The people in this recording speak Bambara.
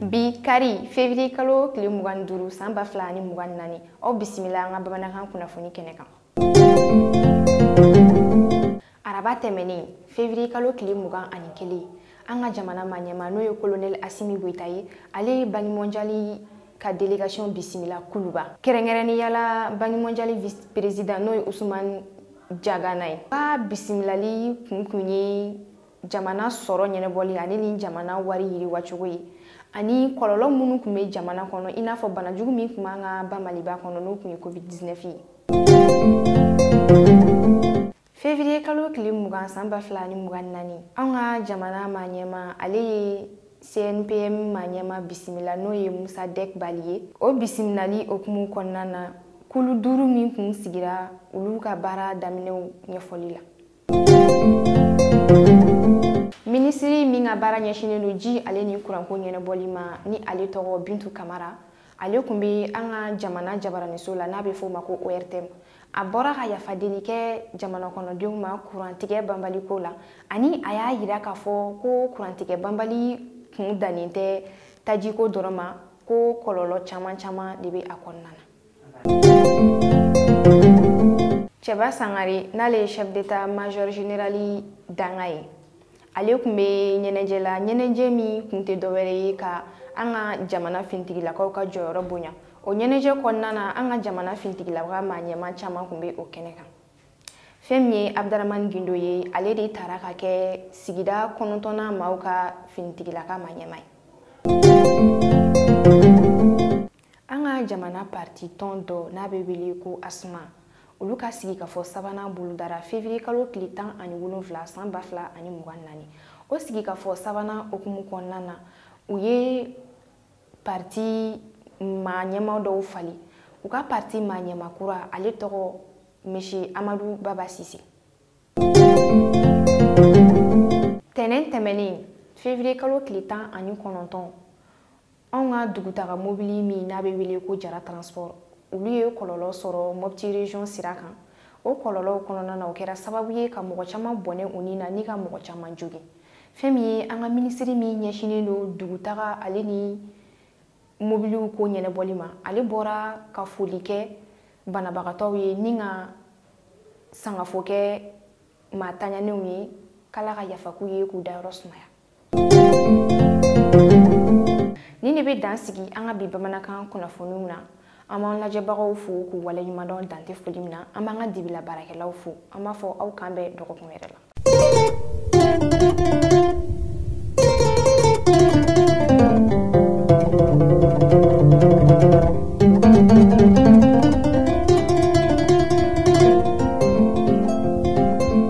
bi kari février kalo tile mugan ni duuru san ba fila ani mugan ni naani aw bisimila an ka bamanankan kunnafoni kɛnɛ kan araba tɛmɛnen février kalo tile mugan ani kelen an ka jamana maɲɛma n'o ye kolonɛli asimi goyita ye ale ye banki mɔnjali ka délégation bisimila kuluba kɛrɛnkɛrɛnnenya la banki mɔnjali vice président n'o ye usumani jagana ye ka bisimilali kun kun ye jamana sɔrɔ ɲɛnabɔli ale ni jamana wari yiriwacogo ye ani kɔlɔlɔ minnu tun bɛ jamana kɔnɔ i n'a fɔ banajugu min tun b'an ka ba maliba kɔnɔ n'o tun ye covid 19 ye fevriye kalo tile mugan san ba fila ni mugan naani anw ka jamana maɲɛma ale ye cnpm maɲɛma bisimila n'o ye mosadɛk bali ye o bisimilali hukumu kɔnɔna na kulu duuru min tun sigira olu ka baara daminɛw ɲɛfɔli la minisiri min ka baara ɲɛsinnen don ji ale ni kuranko ɲɛnabɔli ma ni ale tɔgɔ bintu kamara ale tun bɛ an ka jamana jabaraniso la n'a bɛ f'o ma ko ortm a bɔra ka yafa deli kɛ jamana kɔnɔdenw ma kurantigɛ banbali ko la ani a y'a yira k'a fɔ ko kurantigɛ banbali kun dannen tɛ tajiko dɔrɔn ma ko kɔlɔlɔ caman caman de bɛ a kɔnɔna na cɛba sangare n'ale ye chef d'état major général dankan ye ale tun bɛ ɲɛnajɛ la ɲɛnajɛ min tun tɛ dɔwɛrɛ ye ka an ka jamana finitigilakaw ka jɔyɔrɔ bonya o ɲɛnajɛ kɔnɔna na an ka jamana finitigilaka maa ɲɛma caman tun bɛ o kɛnɛ kan fɛn min ye abdaramani gindo ye ale de tara ka kɛ sigida kɔnɔntɔnnan maaw ka finitigilaka maɲɛma ye an ka jamana parti tɔn dɔ n'a bɛ wele ko asma olu ka sigikafɔ sabanan bolodara fevriye kalo tile tan ani wolonfila san ba fila ani mugan naani o sigikafɔ sabanan hukumu kɔnɔna na u ye parti maa ɲɛma dɔw falen u ka parti maa ɲɛma kura ale tɔgɔ monsieur amadu baba sise tɛnɛn tɛmɛnen fevriye kalo tile tan ani kɔnɔntɔn anw ka dugutaga mobili min n'a bɛ wele ko jara transport olu ye kɔlɔlɔ sɔrɔ mɔpti région sira kan o kɔlɔlɔw kɔnɔna na o kɛra sababu ye ka mɔgɔ caman bɔnɛ u ni na ni ka mɔgɔ caman jogin fɛn min ye an ka minisiri min ɲɛsinnen don dugutaga ale ni mobiliw ko ɲɛnabɔli ma ale bɔra ka foli kɛ banabagatɔw ye ni ka sangafo kɛ maa taɲanenw ye k'ala ka yafa k'u ye k'u dayɔrɔ sumaya nin de bɛ dan sigi an ka bi bamanankan kunnafoniw na an b'an lajɛbagaw fo k'u waleɲumandɔn dan tɛ foli min na an b'an ka dibila baarakɛlaw fo an b'a fɔ aw k'an bɛn dɔgɔkun wɛrɛ la